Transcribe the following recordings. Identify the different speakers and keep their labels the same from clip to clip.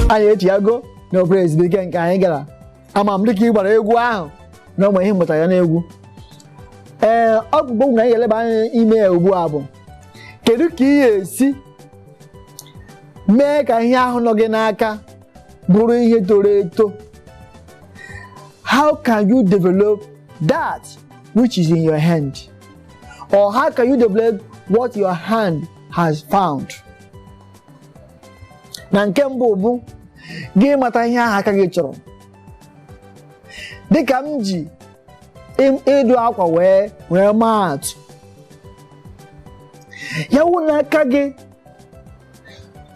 Speaker 1: anyị echighago na obere ezumike nke anyị gara ama m dịka ị gbara egwu ahụ na o nwere ihe ị mụtara ya n'egwu ee okwu nke anyị ga-eleba anya ime ya ugbu a bụ kedu ka ị ga-esi mee ka ihe ahụ nọ gị n'aka bụrụ ihe toro eto how can you develop that which is in your hand Or how can you develop what your hand has found? Na nke mbụ bụ gị ịmata ihe ahụ aka gị chọrọ. Dịka m ji ị- ịdụ akwa wee wee maa atụ. Ya wụ na aka gị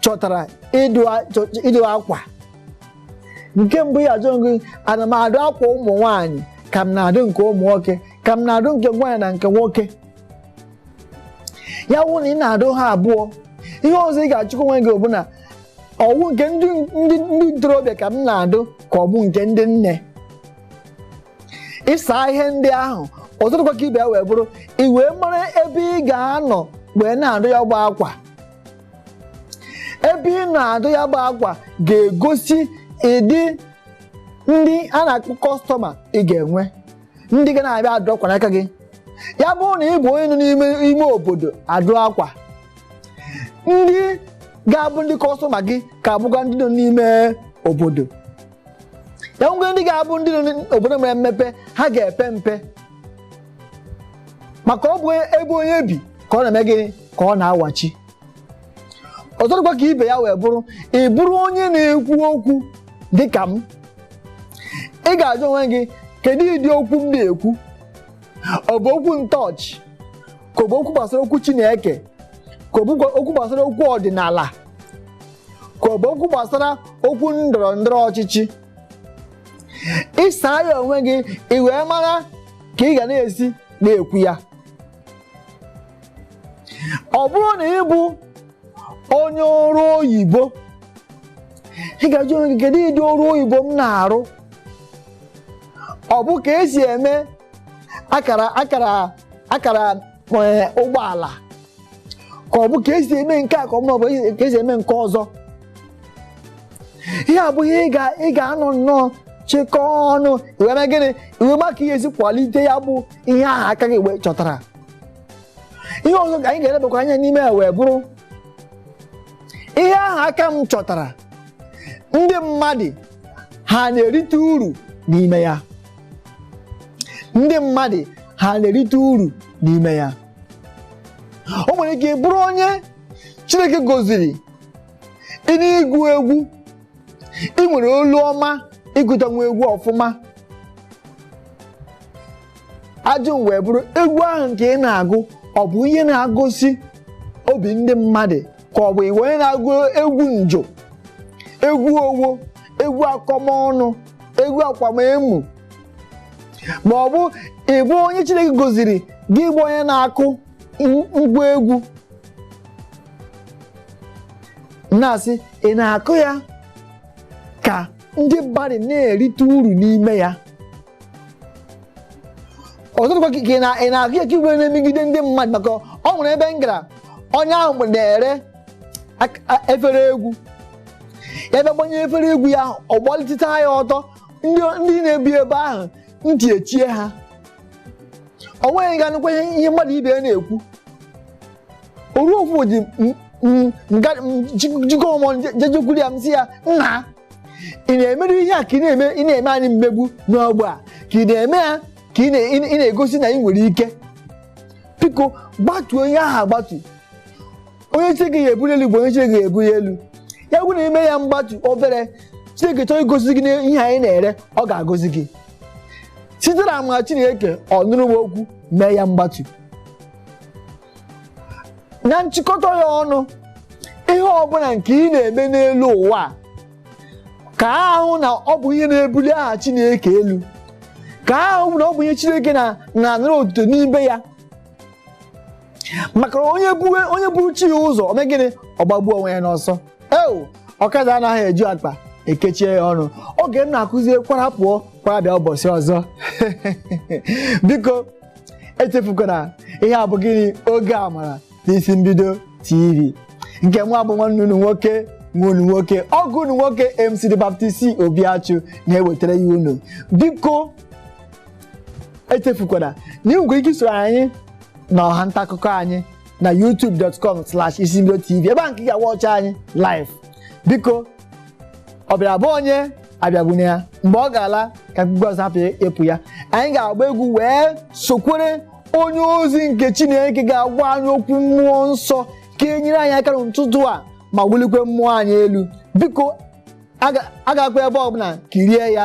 Speaker 1: chọtara ịdụ a- chọ- ịdụ akwa. Nke mbụ ị ga-ajụ onwe gị ana m adụ akwa ụmụ nwaanyị ka m na-adụ nke ụmụ nwoke ka m na-adụ nke nwaanyị na nke nwoke ya wụ na ị na-adụ ha abụọ ihe ọzọ ị ga-ajụkwa onwe gị bụ na ọ wụ nke ndị ndị ndị ntorobịa ka m na-adụ ka ọ bụ nke ndị nne ị saa ihe ndị ahụ ọzọ dịkwa ka ibe ya wee bụrụ i wee mara ebe ị ga-anọ wee na-adụ ya bụ akwa ebe ị nọ adụ ya bụ akwa ga-egosi ịdị ndị a na-akpọ kọstọma ị ga-enwe ndị ga na-abịa adụ akwa n'aka gị ya bụrụ na ị bụ onye nọ n'ime ime obodo adụ akwa ndị ga-abụ ndị kọstọma gị ga-abụkwa ndị nọ n'ime obodo ya nwee ndị ga-abụ ndị nọ n'obodo mere mmepe ha ga-epe mpe maka ọ bụ ebe onye bi ka ọ na-eme gịnị ka ọ na-awachi ọzọ dịkwa ka ibe ya wee bụrụ ị bụrụ onye na-ekwu okwu dị ka m ị ga-ajụ onwe gị kedu ịdị okwu m na-ekwu ọ bụ okwu ntọọchị ka ọ bụ okwu gbasara okwu Chineke ka ọ bụ okwu gbasara okwu ọdịnala ka ọ bụ okwu gbasara okwu ndọrọ ndọrọ ọchịchị ị saa ya onwe gị ị wee mara ka ị ga na-esi na-ekwu ya ọ bụrụ na ị bụ onye ọrụ oyibo ị ga-ajụ onwe gị kedu ịdị ọrụ oyibo m na-arụ ọ bụ ka e si eme akara akara akara eh, ụgbọala ka ọ bụ ka e si eme nke a ka ọ bụ ka e si eme nke ọzọ ihe a bụ ihe ị ga-anọ nnọọ chịkọọ ọnụ i wee mee gịnị i wee ma ka ị ga-esi kwalite ya bụ ihe ahụ aka gị wee chọtara ihe ọzọ ka anyị ga-elebakwa anya n'ime ya wee bụrụ ihe ahụ aka m chọtara ndị mmadụ ha na-erite uru n'ime ya ndị mmadụ ha na-erite uru n'ime ya o nwere ike bụrụ onye Chineke goziri ị na-agụ egwu ị nwere olu ọma ịgụtanwu egwu ọfụma ajụjụ m wee bụrụ egwu ahụ nke ị na-agụ ọ bụ ihe na-agozi obi ndị mmadụ ka ọ bụ ị bụ onye na-agụ egwu njọ egwu owo egwu akọmọnụ egwu akwamemo ma ọ bụ ị bụ onye Chineke goziri gị bụ onye na-akụ m- ngwa egwu na-asị ị na-akụ ya ka ndị mmadụ na-erite uru n'ime ya ọzọ dịkwa ka ị na- ị na-akụ ya ka ị wee na-emegide ndị mmadụ maka ọ nwere ebe m gara onye ahụ mgbe na-ere ak- a- efere egwu ya bịa gbanye efere egwu ya ahụ ọ gbaliteta ya ọtọ ndị ndị na-ebi ebe ahụ ntị echie ha o nweghị ga-anụkwa ihe ihe mmadụ ibe ya na-ekwu oru ofu ji m- m- nga- m- ji- jikọ ọmọ jejekwuru ya m sị ya nna ị na-emerụ ihe a ka ị na-eme ị na-eme anyị mmegbu n'ọgbọ a ka ị na-eme ya ka ị na- ị na- ị na-egosi na ị nwere ike biko gbatuo ihe ahụ agbatu onye chineke ga-ebuli elu bụ onye chineke ga-ebuli elu ya bụ na i mee ya mgbatu obere chineke chọọ igozi gị na ihe ahụ ị na-ere ọ ga-agozi gị site na amara chineke ọ nụrụ m okwu mee ya mgbatu na nchịkọta ya ọnụ ihe ọbụla nke ị na-eme n'elu ụwa a, ka ahụ na ọ bụ ihe na-ebuli aha chineke elu ka ahụ na ọ bụ ihe chineke na- na-anara otuto n'ime ya maka na onye buwe onye buru chi ya ụzọ o mee gịnị ọ gbagbuo onwe ya n'ọsọ eo ọkwa a sị na ihe ju akpa ekechie ya ọnụ oge m na-akụzie kwara pụọ kwara bịa ụbọchị ọzọ biko echefukwana ihe a bụ gịnị oge amara n'isi mbido tv nke mụwa bụ nwanne unu nwoke nwa unu nwoke ọgọ unu nwoke mc the baptist obiachu na-ewetara ya unu biko echefukwana na ị nwere ike isoro anyị na ọha nta akụkọ anyị na youtube.com slash isimbido tv ebe a nke ị ga-awatch anyị live biko ọ bịara be onye abịagbune ya mgbe ọ ga-ala ka mkpukpu azụ hapụ ịpụ ya anyị ga-agba egwu wee sokwere onye ozi nke chineke ga-agwa anyị okwu mmụọ nsọ ga-enyere anyị aka n'ụtụtụ a ma wulikwe mmụọ anyị elu biko agakwa ebe ọbụla kirie ya